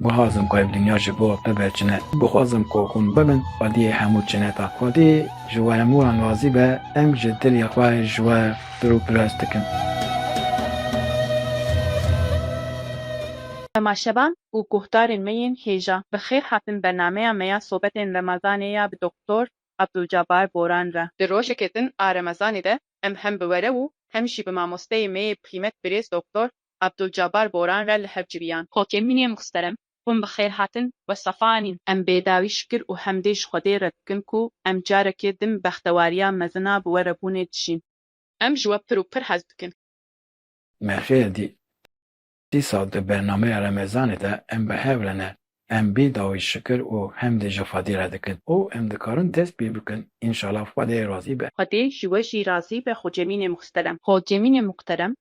Guhazim ku ev dinya ji bo bibe çine. Guhazim ku hûn bibin xwediyê hemû çineta. Xwedî ji we hemû wan razî be, em ji dilê xwe ji we pir û pirs dikin. Temaşevan û guhdarên me yên hêja, bi xêr hatin bernameya me ya sobetên remezanê ya bi Doktor Abdulcabar Boran re. Di rojeke din a remezanê de em hem bi were û hem jî bi mamosteyê me yê bixîmet birêz Doktor Abdulcabar Boran re li hev civiyan. Kokê min yên muhterem, hûn bi xêr hatin we sefa anîn. Em bêdawî şikir û hemdê ji Xwedê re dikin ku em carekê din bextewariya mezin a bi we re bûnê dijîn. Em ji we pir û pir hez dikin. Me xêr dît. Dîsal di bernameya remezanê de em bi hev re ne, em bêdawî şikir û hemdê ji Xwedê re dikin û em dikarin dest pê bikin înşala Xwedê razî be. Xwedê ji we jî razî be Xocemînê muhterem. Xocemînê muhterem,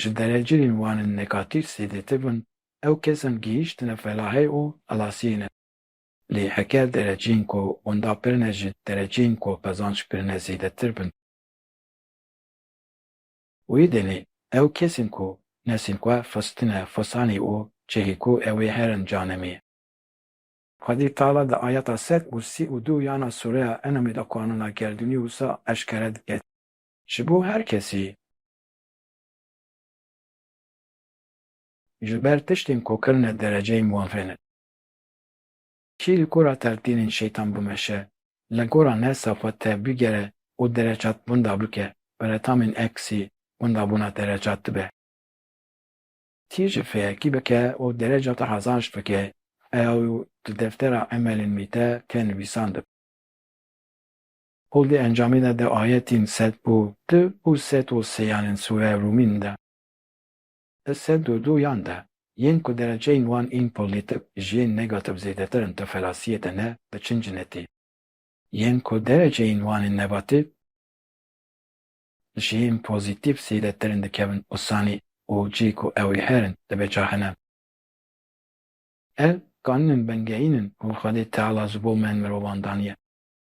Ji dereceyên wan in negatîf zêdetir bin, ew kes in gihîştine felahê û xilasiyê ne. Lê heger dereceyên ku wenda pirine ji dereceyên ku qezanc kirine zêdetir bin, wê demê ew kes in ku nesên xwe xistine xisanê û cihê ku ew ê herin canemê. Xwedî Teala di ayeta sed û sî û du yana Sûreya En'amê de qanûna gerdûnî wisa eşkere dike. Ji bo her kesî Ji ber tiştên ku kirine dereceyên wan fê nekin. Kî li gora telkînên şeytan bimeşe, li gora ne safa te bigere û derecat winda bike, bi retamên eksî windabûna derecat dibe. Kî ji fêekî bike û derecata hezanj bike, ew di deftera emelên wî de tê nivîsan dibe. Û di encamê de di ayetên sed û du û sed û sê yan ên sûreya Rûmîn de. Di sed û du yan de, yên ku dereceyên wan ên polîtîk ji yên negatif zêdetir in tu felasiyê de ne diçin cinetê. Yên ku dereceyên wan ên nebatîf ji yên pozîtîf zêdetir in dikevin usanî û cî ku ew ê herin dibe caxine. Ev kanûnên bingehîn in û Xwedê Teala ji bo me mirovan daniye.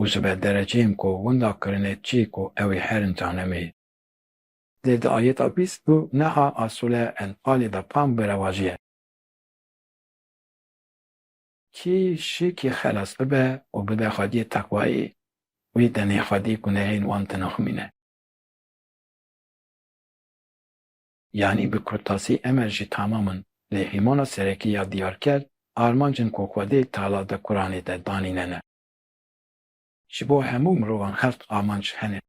û ji ber derecê yên ku winda kirine çî ku ew ê herin canemê. Dê di ayeta bîst û neh a Sûre Enfalê de fam bi rewajiyê. Kî şikî xelas bibe û bide xwediyê teqwayî, wî tenê xwedî gunehên wan tinaximîne. Yanî bi kurtasî Emer jî tamam in. Lê hîmana serekî ya diyarker, armanc in ku xwedê tala di Quranê de danîne ne. Ji bo hemû mirovan heft amanc hene.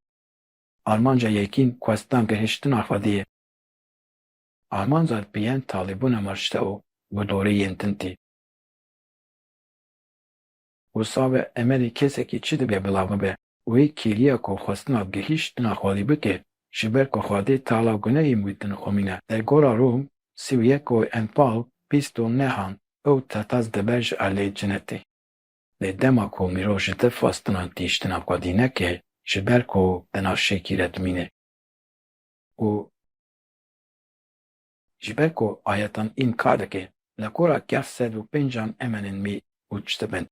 Armanca yekîn kwestan gihiştina xwedî ye. Armanca dbiyên talîbûna marşte û bi dorê yên din tê. Wisa bi emelê kesekî çi dibe bila bibe? Wê kêliya ku xwestina gihiştina xwedî bike ji ber ku xwedê tala gunehên wî din xwimîne. Li gora Rûm sî û yek û empal bîst û nehan ew tetaz dibe ji alê cinetê. Lê dema ku mirov ji te xwestinan tihîştina xwedî neke, ji ber ku di nav şêkî re dimîne û ji ber ku ayetan înkar dike, li gora kef sed û pêncan em in mî û çi dibin?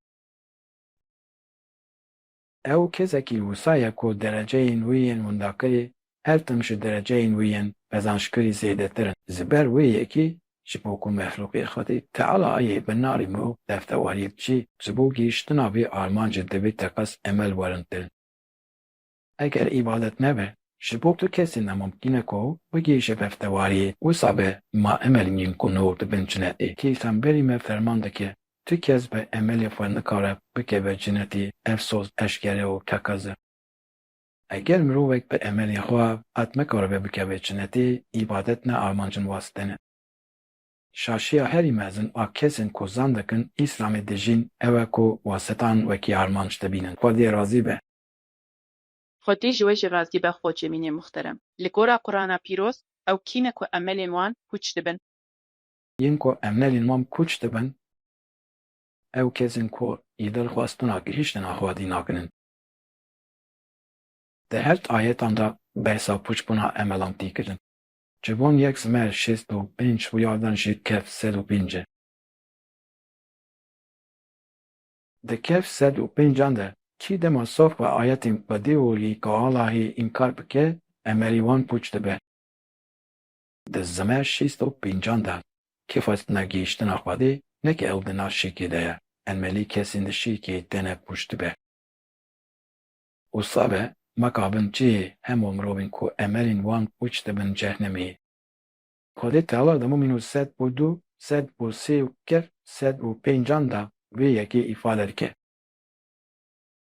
Ew kesekî wisa ye ku dereceyên wî yên windakirî her tim ji dereceyên wî yên qezançkirî zêdetir in. Ji ber wê yekî ji bo ku mexlûqê Xwedî Teala yê bi narê mirov deftewariyê biçî, ji bo gihîştina vê armancê divê teqez emel werin kirin. Eger îbadet nebe, ji bo tu kesî ne mumkîn e ku bigihîşe deftewariyê, wisa be ma emel nîn ku nûr dibinçine ê. Peyxemberî me ferman dike, Tu kes bi emelê xwe nikare bikeve cinetî, efsos, eşkere û kekaze. Eger mirovek bi emelê xwe qet nikaribe bikeve cinetî, îbadet ne armancên wasite ne. Şaşiya herî mezin a kesên ku zan dikin Îslamê dijîn ew e ku wasitan wekî armanc dibînin. Xwe dê razî be. Xwe dê ji we jî razî be Xocê mînê muxterem. Li gora Qurana pîroz ew kî ne ku emelên wan pûç dibin. Yên ku em nelên mam kûç dibin, ew kesên ku ji dilxwastina gihîştin a xwedî nakinin. Di her di ayetan de behsa pûçbûna emelan tê kirin. Ji van yek zimer şêst û pênc û yardan jî kef sed û pênc e. Di kef sed û pêncan de kî dema saf bi ayetên xwedî û li Kaalahê înkar bike, emelî wan pûç dibe. Di zimeya şêst û pêncan de kê xwestina gihîştina Xwedê neke ew di nav şêkê de ye, emelî kesên di şêkê têne pûç dibe. Wisa be ma kabin cihê hemû mirovên ku emelên wan pûç dibin cehnemê. Xwedê tewr di mûmîn û sed û du, sed û sê û kef, sed û pêncan de vê yekê îfade dike.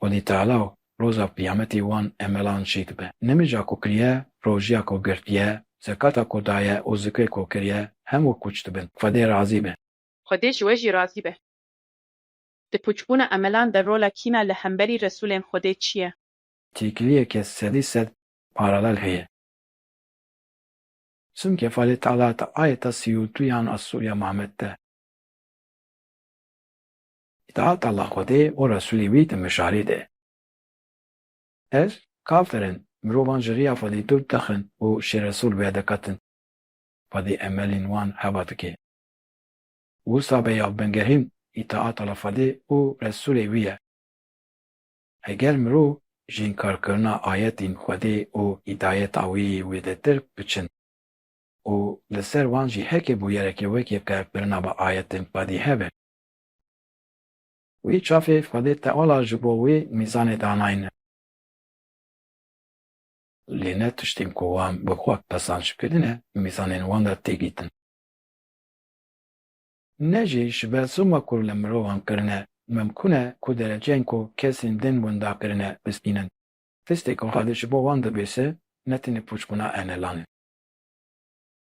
Xwedî Teala û Roja Qiyametî wan emelan çêk dibe. Nimêja ku kiriye, rojîya ku girtiye, zekata ku daye û zikrê ku kiriye hemû pûç dibin. Xwedê razî be. Xwedê ji we jî razî be. Di pûçbûna emelan de rola kîna li hemberî Resûlên Xwedê çi ye? Têkiliyeke sedî sed paralel heye. Çimkî Xwedê Teala di ayeta sî û duyan a Sûreya Muhammed de. Îtaat Allah Xwedê û Resûlê wî di mijarê de. Ez, kafir in, mirovan ji riya Xwedê dûr dixin û şê Resûl wê diqetin. Xwedê emelên wan heva dike. Wisa be ya bingehîn îtaat Allah Xwedê û Resûlê wî ye. Eger mirov ji înkarkirina ayetên Xwedê û hîdayeta wî wê de tirk biçin û li ser wan jî heke bûyerekê wekî qebkirina bi ayetên Xwedê hebe, Wî çavê Xwedê Teala ji bo wî mîzanê danayne. Lê ne tiştên ku wan bi xwe pesanc kirine mîzanên wan de tê dîtin. Ne jî ji ber zilma ku li mirovan kirine mimkûn e ku dereceyên ku kesên din winda kirine bistînin. Tiştê ku Xwedê ji bo wan dibêse ne tenê pûçbûna enelan e.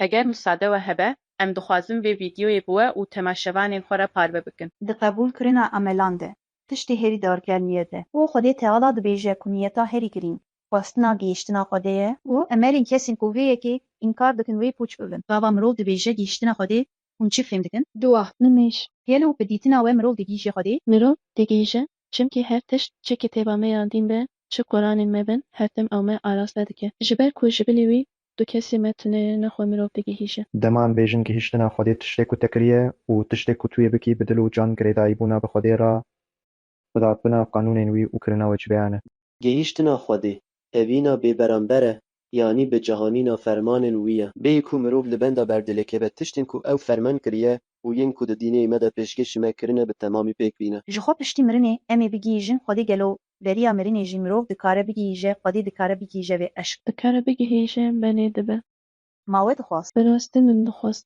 Heger musade we hebe, em dixwazin vê vîdyoyê bi we û temaşevanên xwe re parve bikin. Di qebûlkirina emelan de, tiştê herî darger niyet e. Ku Xwedê Teala dibêje ku niyeta herî girîng, xwestina gihîştina Xwedê ye. Ku emelên kesên ku vê yekê înkar dikin wê pûç bibin. Gava mirov dibêje gihîştina Xwedê hûn çi fêm dikin? Dua, nimêj, gelo bi dîtina we mirov digihîje Xwedê? Mirov digihîje, çimkî her tişt çi kitêba me ya dîn be, çi Quranên me bin, her tim ew me araste dike. Ji ber ku ji bilî wî Tu kesê me tune ye, ne xwe mirov digihîje. Dema em bêjin gihîştina Xwedê tiştê ku te kiriye û tiştê ku tu yê bikî bi dil û can girêdayîbûna bi Xwedê re bi dadbina qanûnên wî û kirina wecibeyan e. Gihîştina Xwedê, tevîna bêberamber e, yanî bi cihanîna fermanên wî ye. Bêyî ku mirov li benda berdêlê keve, tiştên ku ew ferman kiriye û yên ku di dînêyî me de pêşkêşî me kirine bi temamî pêk bîne. Ji xwe piştî mirinê em ê bigihîjin Xwedê gelo Beriya mirinê jî mirov dikare bigihîje, xwedî dikare bigihîje vê eşq. Dikare bigihîje benê dibe. Ma we dixwast. Bi rastî min dixwast.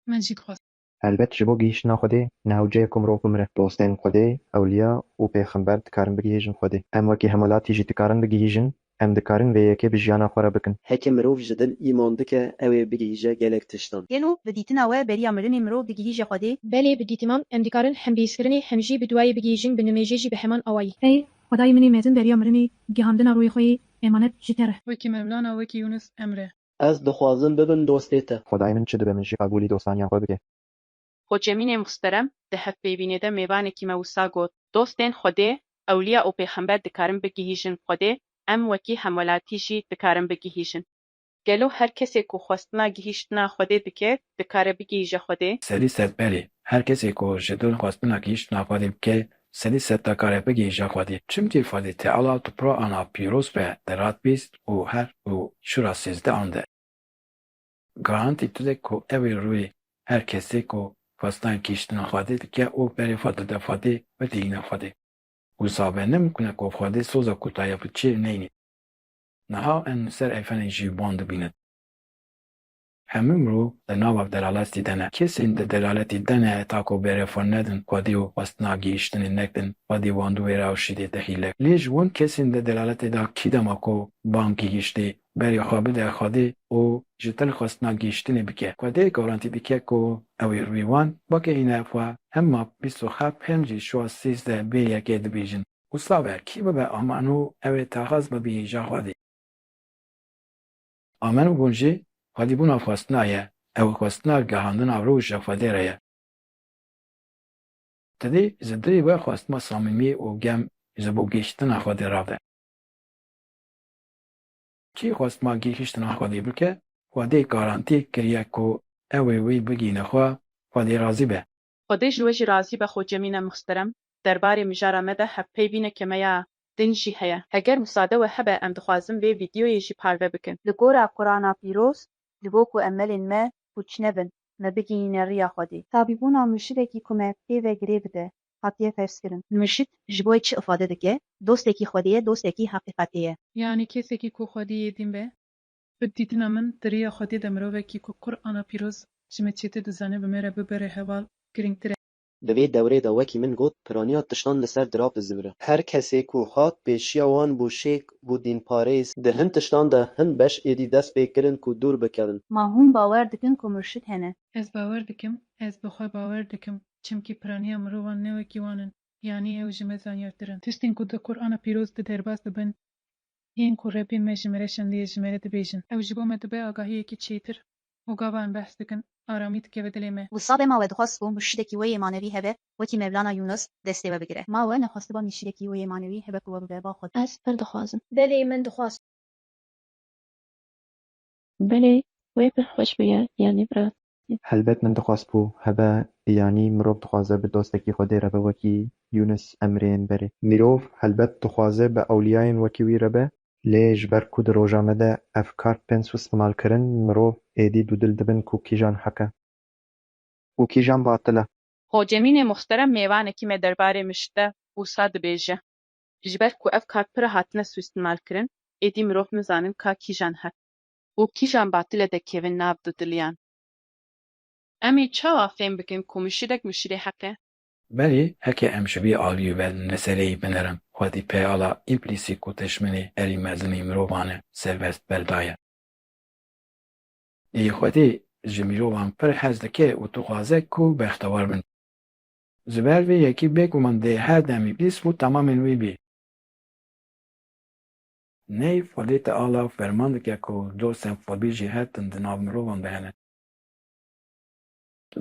Min jî dixwast. Helbet ji bo gihîştina xwedê newceyê ku mirov bimire. Dostên xwedê, ewliya û pêxember dikarin bigihîjin xwedê. Em wekî hemolatî jî dikarin bigihîjin Em dikarin vê yekê bi jiyana xwe re bikin. Heke mirov ji dil îman dike ew ê bigihîje gelek tiştan. Gelo bi dîtina we beriya mirinê mirov digihîje Xwedê? Belê bi dîtiman em dikarin hem bi hîskirinê hem jî bi duwayê bigihîjin bi nimêjê jî bi heman awayî. Ey Xwedayê min ê mezin beriya mirinê gihandina rûyê xwe yê emanet ji te re. Wekî Mevlana wekî Yûnus Emre. Ez dixwazim bibim dostê te. Xwedayê min çi dibe min jî qebûlî dostaniya xwe bike. Xo Cemînê Muhsterem di hevpêvînê de mêvanekî me wisa got, Dostên Xwedê, ewliya û pêxember dikarin bigihîjin Xwedê, em wekî hemwelatî jî dikarin bigihîjin. Gelo her kesê ku xwestina gihîştina Xwedê dike, dikare bigihîje Xwedê? Sedî sed belê. Her kesê ku ji dil xwestina gihîştina Xwedê bike, sedî sed dakare bigihîje Xwedê. Çimkî Xwedê Teala tupra ana pîroz be di rat bîst û her û şûra sêzdehan de. Garantî dide ku ew ê rûyê her kesê ku xwestan kiştina Xwedê dike û berê xwe dide Xwedê ve têyîna Xwedê. Wisa ve ne mûkne ku Xwedê soza ku daye bi çê neyne. Niha em li ser eyfenê jî wan dibînin. Hemû mirov di nava delaletî de ne. Kesên di delaletî de ne heta ku berê xwe nedin Xwedê û xwestina gihîştinê nekin, Xwedê wan dû wêra û şîdê te hîlek. Lê ji wan kesên di delaletê de kî dema ku wan gihîştê berê xwe bide Xwedê û ji til xwestina gihîştinê bike. Xwedê garantî dike ku ew ê rûyê wan weke hîna xwe hem map bîst û heft hem jî şuwa sîzdeh bê yekê dibêjin. Wisa be kî bibe aman û ew ê taxaz bibihîja Xwedê. Aman û hûn jî Xwedîbûna xwestina ye. Ew xwestina gihandina rû ji Xwedê re ye. Dilî ji dilî we xwestina samîmî û germ ji bo gihîştina Xwedê rave. Kî xwest ma gihîştina Xwedê bike, Xwedê garantî kiriye ku ew ê wî bigihîne xwe, Xwedê razî be. Xwedê ji we jî razî be xwe cemîne muhsterem, derbarê mijara me de hevpeybîne ke me ya din jî heye. Eger musade we hebe em dixwazin vê vîdyoyê jî parve bikin. Li gora Qurana pîroz, ji bo ku emelên me pûç nebin, me bigihîne riya Xwedê. Tabîbûna murşidekî ku me pê ve girê bide, hatiye ferzkirin. Murşîd ji bo wê çi ifade dike? Dostekî xwedî ye, dostekî heqîqetê ye. Yanî kesekî ku xwedî yê dîn be. Bi dîtina min di rêya xwedê de mirovekî ku Qur'ana pîroz ji me çêtir dizane bi me re bibire heval girîngtir e. Di vê dewrê de wekî min got piraniya tiştan li ser dirav dizimire. Her kesê ku hat pêşiya wan bû şêk, bû dînparêz. Di hin tiştan de hin beş êdî dest pê kirin ku dûr bikevin. Ma hûn bawer dikin ku Murşîd hene? Ez bawer dikim, ez bi xwe bawer dikim. Çimkî piraniya mirovan ne wekî wan in, yanî ew ji me zanyartir in. Tiştên ku di Qur'ana pîroz de derbas dibin yên ku Rebbê me ji me re şandiye ji me re dibêjin. Ew ji bo me dibe agahiyekî çêtir û gava em behs dikin aramî dikeve dilê me. Wisa be ma we dixwest ku murşidekî wê yê manewî hebe wekî Mevlana Yûnus destê we bigire. Ma we nexwestiba mîrşidekî wê yê manewî hebe ku we bibe ba xwe. Ez pir dixwazim. Belê min dixwaz. Belê wê pir xweş bûye yanî bi rastî. Helbet min dixwest ku hebe yanî mirov dixwaze bi dostekî Xwedê re be wekî Yûnis Emreyên berê. Mirov helbet dixwaze bi ewliyayên wekî wî re be. Lê ji ber ku di roja me de ev kart bên sustimal kirin mirov êdî dûdil dibin ku kîjan heq e. Û kîjan batil e. Hocemînê muxterem mêvanekî me derbarê mişt de wisa dibêje. Ji ber ku ev kar pira hatine sûîstîmalkirin, êdî mirov nizanin ka kîjan heq û kîjan batile dekevin nav du diliyan. Em ê çawa fêm bikin ku mişirek mişirê heq e? Belê heke em ji vê aliyê ve li sereyê binerin, xwedî peyala împlîsîk û tejminê erî mezimî mirovan e, serbest berda ye. Lê xwedî ji mirovan pir hez dike û dixwaze ku bextewar bin. Ji ber vê yekî bêguman dê her demî pîs û temamên wî bî. Ney fobî te ala ferman dike ku dosên fobî jî her tim di nav mirovan de hene.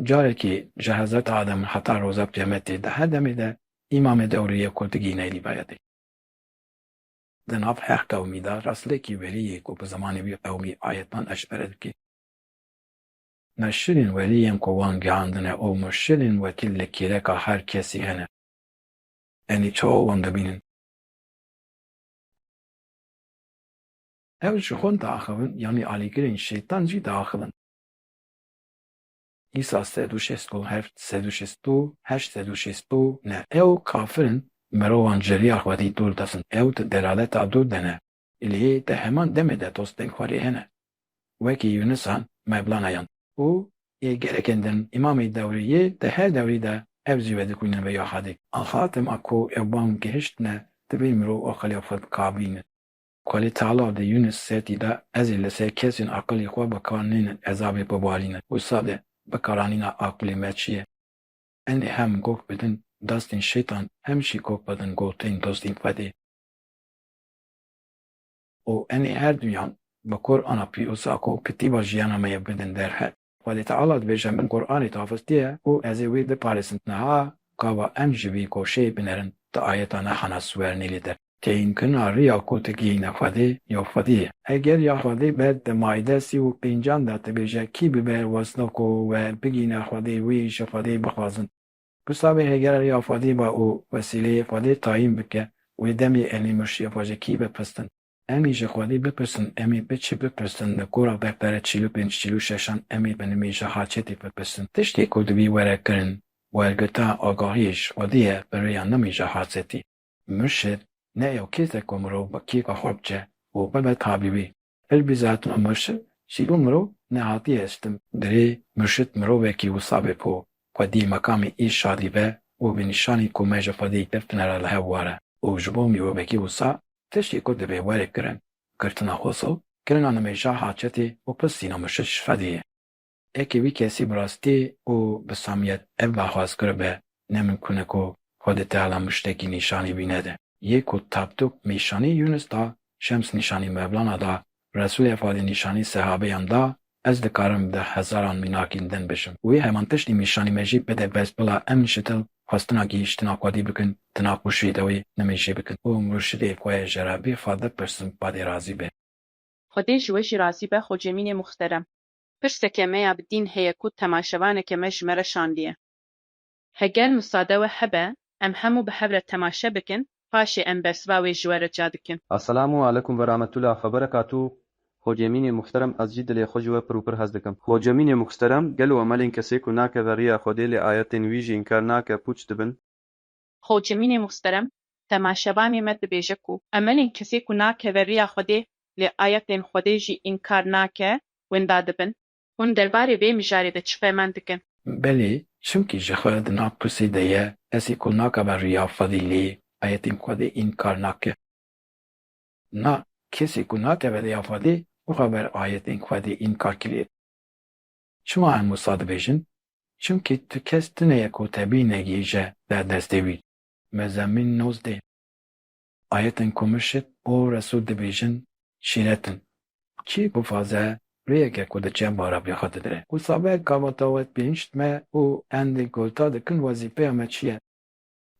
Carekî ji Hezret Adem heta roza Qîyametê di her demê de îmamê dewrê ye ku digî ney rîvayetê. Di nav her qewmî de rastlikî werî yê ku bi zimanê wî qewmî ayetnan eşkere dike. Meşirên welî yên ku wan gihandine û murşidên wekî li kêleka her kesî hene. Enî çawa wan dibînin? Ew ji xwend diaxivin yanî alîgirên şeytan jî diaxivin. Îsa sed û şêst û heft, sed û şêst û heşt, sed û şêst û neh. Ew kafir in, mirovan ji riya Xwedî dûr dixin, ew di delaleta dûr de ne. Lê di heman demê de tostengxwarê hene wekî Yunisan, Mevlana yan. Û yê gelekên din Îmamê dewrê yê di her dewrî de ev jî vedikûnin vê ya Xadî. Axa dema ku ew bang gihiştine divê mirov aqilê xwe bikavîne. Xwedê Teala di Yunis setî de ezê li ser kesên aqilê xwe bikar nênin ezabê bibarîne. Wisa de bikaranîna aqilê me çi ye? Enê hem gog bidin dastên şeytan hem jî gog bidin gotên dostên Xwedê. Û em ê her duyan bi kor ana pîroza ku kitêba jiyana me ye bidin derheq. Xwedê Teala dibêje min Quranê tavîrtiye û ez ê wê biparêzim. Niha gava em ji vî goşê binerin di ayeta ne hana siwer nêlê der. Têyinkirina riya ku tu gihîne Xwedê ya Xwedê ye. Eger ya Xwedê be di Maîde sî û pêncan de dibêje kî bibe wezna ku we bigihîne Xwedê wî ji Xwedê bixwazin. Ku Samê Hêger rêya Fadê ba û wesîleyê Fadê tayîn bike, wê demê Elî Murşiya xwe ji kî bipristin? Em ê ji Xwedê bipirsin, em ê bi çi bipirsin? Li kora bexdere çîl û pênc çîl û şeşan em ê bi nimê ji Haçetê bipirsin. Tiştê ku dibî were kirin, wergirta agahiyê ji Xwedê ye bi rêya nimê ji Haçetê. Murşid ne ew kês e ku mirov bi kêfa xwe biçe û bibe tabîbî. Qelbî zat û murşid jî bo mirov nehatiye estin. Derê murşid mirovekî wisa be ku xwedî meqamê îrşadî be û bi nîşanî ku me ji xwedî girtine re li hev ware û ji bo mirovekî wisa tiştê ku dibe were kirin, girtina xwesû, kirina nimêja haçetê û pirsîna murşid ji xwedê ye. Eke wî kesî bi rastî û bi samîyet ev berxwaz kiribe, ne mimkûn e ku xwe di teala mûştekî nîşanî wî nede. Yê ku Tapdûk nîşanî Yûnus da, Şems nîşanî Mevlana da, Resûlê Efadî nîşanî sehabeyan da, ez dikarim di hezaran mînakîn din bijim. Wê heman tiştî nîşanî me jî bide bes bila em nişitil xwestina gihîştina xwedî bikin di nav xwişiyê de wê nimêjê bikin û murşidê xwe yê Jerabî xwe bipirsin badê razî be. Xwedê ji we jî razî be Xocemînê muxterem. pirseke me ya bi dîn heye ku temaşevaneke me ji me re şandiye. Heger musade we hebe, em hemû bi hev re temaşe bikin, paşê em bersiva wê ji we re ca dikin. Assalamu alekum ve rametullah xebereka tu Xocemînê muxterem ez jî dilê xwe ji we pir û pir hez dikim. Xocemînê muxterem gelo emelên kesê ku nake ve riya Xwedê lê ayetên wî jî înkar nake pûç dibin? Xo Cemînê Muhsterem Tema Şebanê me dibêje ku emelên kesê ku nakeve riya Xwedê lê ayetên Xwedê jî înkar nake winda dibin. Hûn derbarê vê mijarê de çi feman dikin? Belê, çimkî ji xwe di nav pirsê de ye, kesê ku nakeve riya Xwedê lê ayetên Xwedê înkar nake. Na, kesê ku nakeve riya Xwedê, bixwe ber ayetên Xwedê înkar kirê. Çima em wisa dibêjin? Çimkî tu kes tune ye ku tebî negihîje derdestê wî. Mezemîn nozdeh. Ayetên ku murşid û resûl dibêjin şîret in. Kî bivaze rêyeke ku diçe bara bê xwe didire. Wisa be gavata we pênc me û endê golta dikin wezîfeya me çi ye?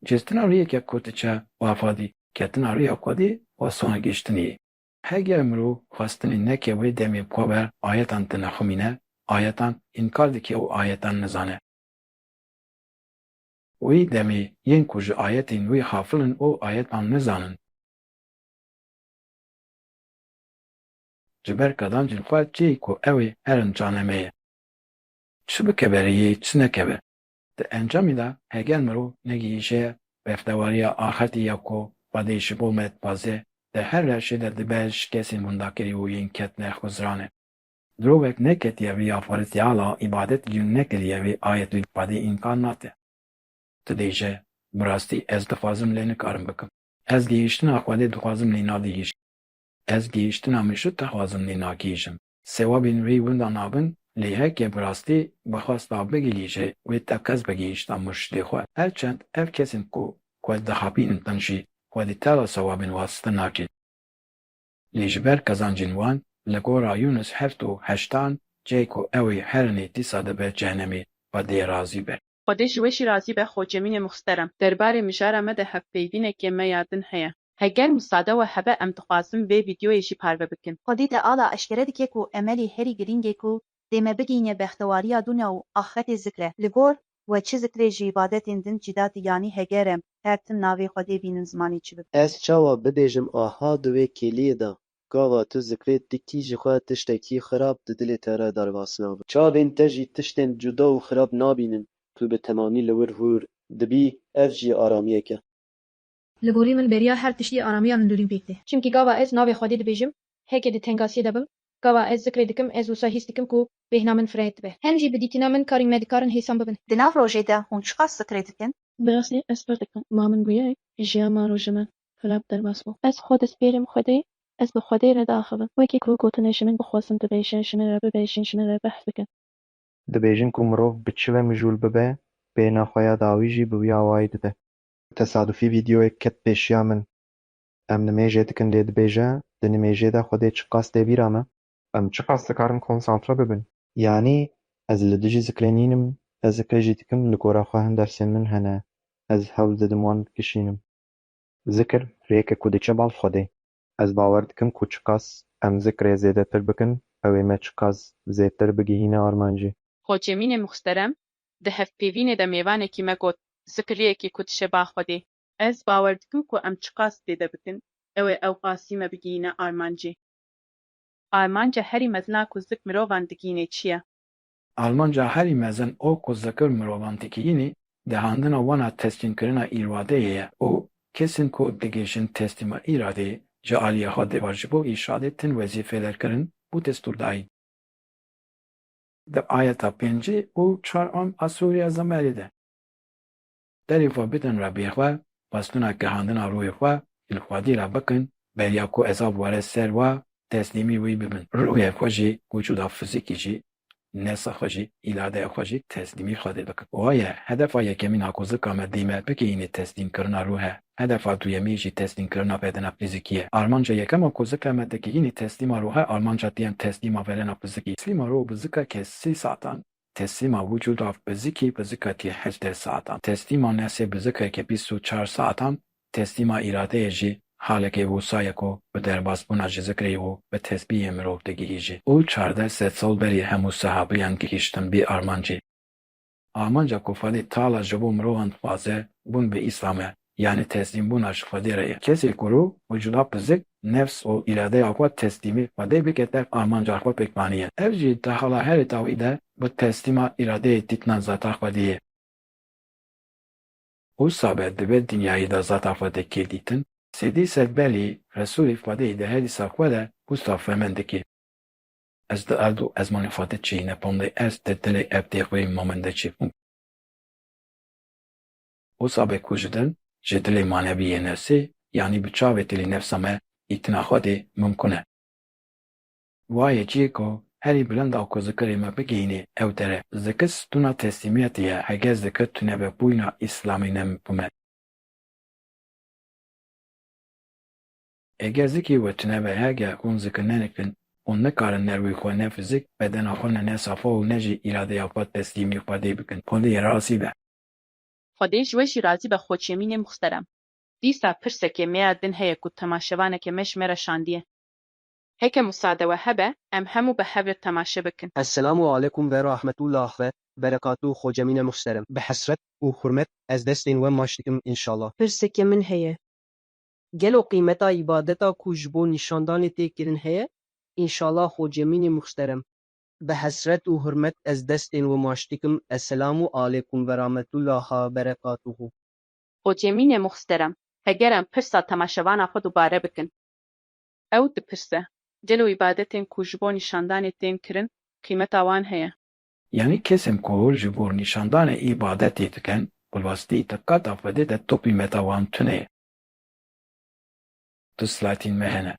Cihstina rêyeke ku diçe ba xwedî. Ketina rêya xwedî wasona gihîştinê ye. Heger mirov xwestinê neke wê demê ku ber ayetan tine xwimîne ayetan înkar dike û ayetan nizane. Wê demê yên ku ji ayetên wê xafil in û ayetan nizanin, ji ber kezancên xwe çêyî ku ew ê herin caneme ye. Çi bike berê yê çi nekeve. Di encamê de heger mirov negihîşe bextewariya axirtî ya ku Xwedê ji bo me dixwaze, di her rewşê de dibe ji kesên windakirî û yên ketine xwizrane. Mirovek neketiye vê ya Faritîala îbadet jîn nekiriye vê ayetê li Xwedê înkar nake. Tu dê ji, Bi rastî ez dixwazim lê nikarim bikim. Ez gihîştina Xwedê dixwazim lê nadihîşim. Ez gihîştina min şût dixwazim lê nagihîşim. Sewabên wî winda nabin, lê heke bi rastî bixwasta bigihî jê wê teqez bigihîşta murşidê xwe. Her çend ev kesên ku xwe dixapînin din jî xwe di teva sewabên wastin nakîn. Lê ji ber qezancên wan li gora Yûnus heft û heştan cihê ku ew ê herinê dîsa dibe cehenemê xwe dê razî be. Xwedê ji we jî razî be xo cemînê muxsterem. Derbarê mijara me de hevpeyvînekê me ya din heye. Heger musade we hebe em dixwazin vê vîdyoyê jî parve bikin. Xwedî Teala eşkere dike ku emelê herî girîng ê ku dê me bigihîne bextewariya dûnya û axretê zikr e. Li gor we çi zikr ê ji îbadetên din cîdatî yanî heger em her tim navê Xwedê bînin zimanê çi bibe. Ez çawa bibêjim aha di wê kêliyê de Gava tu zikrê tu kî ji xwe tiştekî xirab di dilê te re derbas nabe. Çavên te jî tiştên cuda û xirab nabînin. Tu bi temamî li wir hûr dibî, ev jî aramiyek e. Li gorî min beriya her tiştî aramiya hundirîn pêk tê. Çimkî gava ez navê Xwedê dibêjim, heke di tengasiyê de bim, gava ez zikrê dikim, ez wisa hîs dikim ku bêhna min fireh dibe. Hem jî bi dîtina min karên me dikarin hêsan bibin. Di nav rojê de hûn çiqas zikrê dikin? Bi rastî ez pirr dikim. Ma min bûye jiya ma rojê min. Xira bi derbas bû. Ez xwe despêrim Xwedê, ez bi Xwedê re diaxivim. Wekî ku gotin e ji min bixwazin bibêje, ji min re bibêjin, ji min re behs bikin. Dibêjin ku mirov bi çi ve mijûl bibe, bêhna xwe ya dawî jî bi wî awayî dide. Tesadufî vîdeoyek ket pêşiya min. Em nimêjê dikin lê dibêje, di nimêjê de Xwedê çiqas tê bîra me? Em çiqas dikarin konsantre bibin? Yanî ez li dijî zikrê nînim, ez zikrê jî dikim, li gora xwe hin dersên min hene, ez hewl didim wan bikişînim. Zikr rêke ku diçe bal Xwedê. Ez bawer dikim ku çiqas em zikrê zêdetir bikin ew ê me çiqas zêdtir bigihîne armancê. Hocêmînê muxsterem di hevpêvînê de mêvanekî me got, Zikr rêyekê ku diçe bal Xwedê. Ez bawer dikim ku em çiqas zêde bikin ew ê ewqasî me bigihîne armancê. Armanca herî mezin a ku zik mirovan digihînê çi ye? Armanca herî mezin û ku zikir mirovan dikiyînî, dihandina wan a teslîmkirina îradeyê ye û kesên ku digihîşin teslîma îradeyê, ji aliyê xwe dê ji bo îrşadê tin wezîfeler kirin û destûrdayîn. Di ayeta pêncî û çar a Sûriya Zemerî de. Derê xwe bidin Rebbê xwe, xwestina gihandina rûyê xwe ji li Xwedê re bikin, beriya ku ezab were ser we, teslîmî wî bibin. Rûyê xwe jî, wicûda fizîkî jî, nefsa xwe jî, îradeya xwe jî teslîmî Xwedê bikin. Waye, hedefa yekemîn a ku zika me dê me bigihîne teslîmkirina rû he. Hedefa duyemîn jî teslîmkirina bedena fizîkî ye. Armanca yekem a ku zika me digihîne teslîma rû he, armanca duyem teslîma bedena fizîkî. Teslîma rû bi zika kesî satan Teslîma wicûda bizikî bizika tî heşt deh saetan, teslîma nefsê bizika ke bîst û çar saetan, teslîma îradeyê jî halekê wisa ye ku bi derbasbûna ji zikrê û bi tesbîhê mirov digihîjî û çardeh sed sal berî hemû sehabiyan gihîştin vî armancê. Armanca ku Xwedî tala ji bo mirovan dixwaze bûn bi Îslam e. Yanî teslîmbûna ji Xwedê re ye. Kesê ku rû û cila pizik, nefs û îradeya xwe teslîmî Xwedê bike tev armanca xwe pêk anîye. Ev jî di hala herî dawî de bi teslîma îradeyê dîtina zata Xwedê ye. Wisa be di vê dinyayî de zata Xwedê kê dîtin? Sêdî Sedbelî, Resûlî Xwedê di herîsa xwe de wisa fehm dike. Ez di erd û ezmanê xwe de çêyî nepandê, ez di dilê erdê xwe yê mamende çêbûm. Wisa be ku ji dil, ji dilê manevî yê nefsê, yanî bi çavê tilî nefsa me îtina Xwedê mimkun e. Wa yê cî ku herî bilinda ku zikirê me bigihînê ew dere. Zikir stûna teslîmiyetê ye, heger zikir tunebe bûyna îslamî nemimkun e. Heger zikî we tunebe, heger hûn zikir nenikin, hûn nikarin ne rûyê xwe, ne fizîk, bedena xwe ne ne safa û ne jî îradeya xwe teslîmî Xwedê bikin. Xwedê yê rastî be. Xwedê ji we jî razî be xwe çêmînê muxterem. Dîsa pirsekê me ya din heye ku temaşevaneke me ji me re şandiye. Heke musade we hebe em hemû bi hev re temaşe bikin. Esselamu alekum ve rahmetullah ve berekatu xwe cemîne muhserem. Bi hesret û hurmet ez destên we maç dikim inşallah. Pirsekê min heye. Gelo qîmeta îbadeta ku ji bo nîşandanê tê kirin heye? Înşallah xwe cemînê muhserem. Bi hesret û hurmet ez destên wi maş dikim, Eselamu alekum verametullaha berekatuhu. Hocemînê muxsterem, heger em pirsa temaşevana xwe dubare bikin. Ew dipirse, Gelo îbadetên ku ji bo nîşandanê tên kirin qîmeta wan heye? Yanî kesên ku ji bo nîşandanê îbadetê dikin, bi rastî di qada Xwedê de tu qîmeta wan tune ye. Tu silatîn me hene.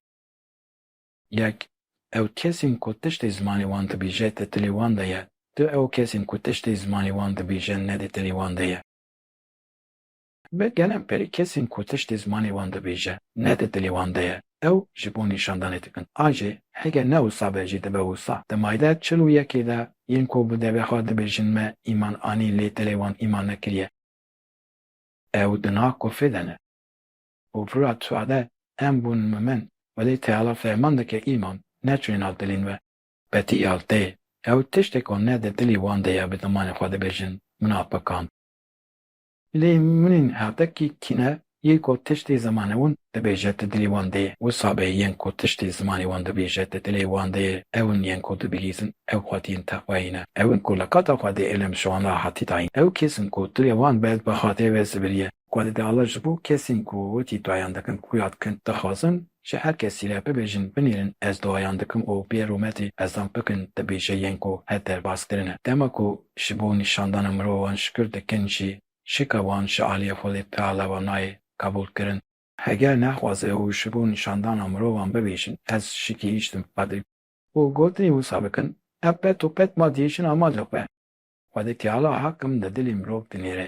Yek, ew kesên ku tiştê zimanê wan dibîje di dilê wan de ye. Du, ew kesên ku tiştê zimanê wan dibîje ne di dilê wan de ye. Bi gelem berî kesên ku tiştê zimanê wan dibîje ne di dilê wan de ye, ew ji bo nîşandanê dikin. A jê, heger ne wisa be jî dibe wisa. Di mayde çil û yekê de yên ku bi devê xwe dibêjin me îman anî lê dilê wan îman nekiriye, ew di na kofê de ne. Û Firat Suade, Em bûn mumin, welê teala fermandeke îman ne çûye nav dilên we. Betî Altê, Ew tiştê ku ne di dilê wan de ye bi zimanê xwe dibêjin, min hat bikand. Lê munîn hetekî kîne yê ku tiştê zimanê wan dibêje di dilê wan de ye. Wisa be yên ku tiştê zimanê wan dibêje di dilê wan de ye, ew in yên ku dibihîzin, ew xwediyên te xwe yî ne. Ew in ku li kata xwe de êlem ji wan re hatî dayîn. Ew kes in ku dilê wan be bi xatê ve zibiriye. Ku di dala ji bo kesên ku wekî duayan dikin xuya dikin dixwazin ji her kesî re bibêjin binêrin ez duayan dikim û bê rûmetê ezan bikin dibêje yên ku her derbas kirin e. Dema ku ji bo nîşandana mirovan şikir dikin jî şika wan ji aliyê Xwedê Teala ve nayê qebûl kirin. Heger nexwaze û ji bo nîşandana mirovan bibêjin ez şikî hiştim bi Xwedê û gotinê wisa bikin ev qet û qet ma dihêjin amadê xwe. Xwedê Teala hak min di dilê mirov dinêre.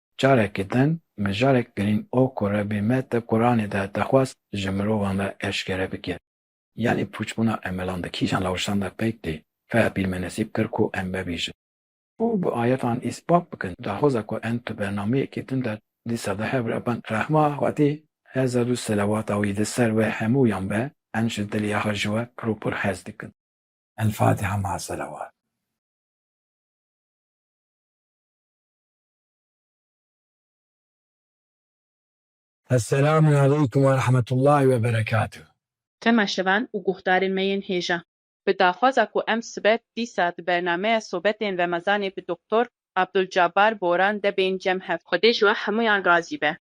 Careke din mijarek girîn o ku Rebî me di Quranê de dixwest ji mirovan re eşkere bike. Yanî pûçbûna emelan di kîjan lawişan de peyk tê? Fehr pîr me nesîb kir ku em bibêjin. Û bi ayetan îspat bikin daxwaza ku em di bernameyekî din de dîsa di hev re bin. Rehma Xwedî hezar û selewata wî li ser we hemûyan be, em ji dilê axa ji we pir û pir hez dikin. Elfatiha Maselewat. Esselam aleykum ve rahmetullahi ve berekatuh. Tema şevan û guhdarên me yên hêja. Bi daxwaza ku em sibe dîsa di bernameya sobetên remezanê bi Doktor Abdulcabar Boran de bên cem hev. Xwedê ji we hemûyan razî be.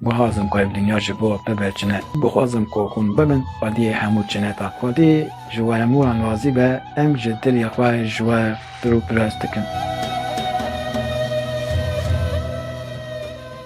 Guhazim ku ev dinya ji bo bibe çine. Guhazim ku hûn bibin xwediyê hemû çineta. Xwedî ji we hemû an razî be, em ji dilê xwe ji we pirûpirest dikin.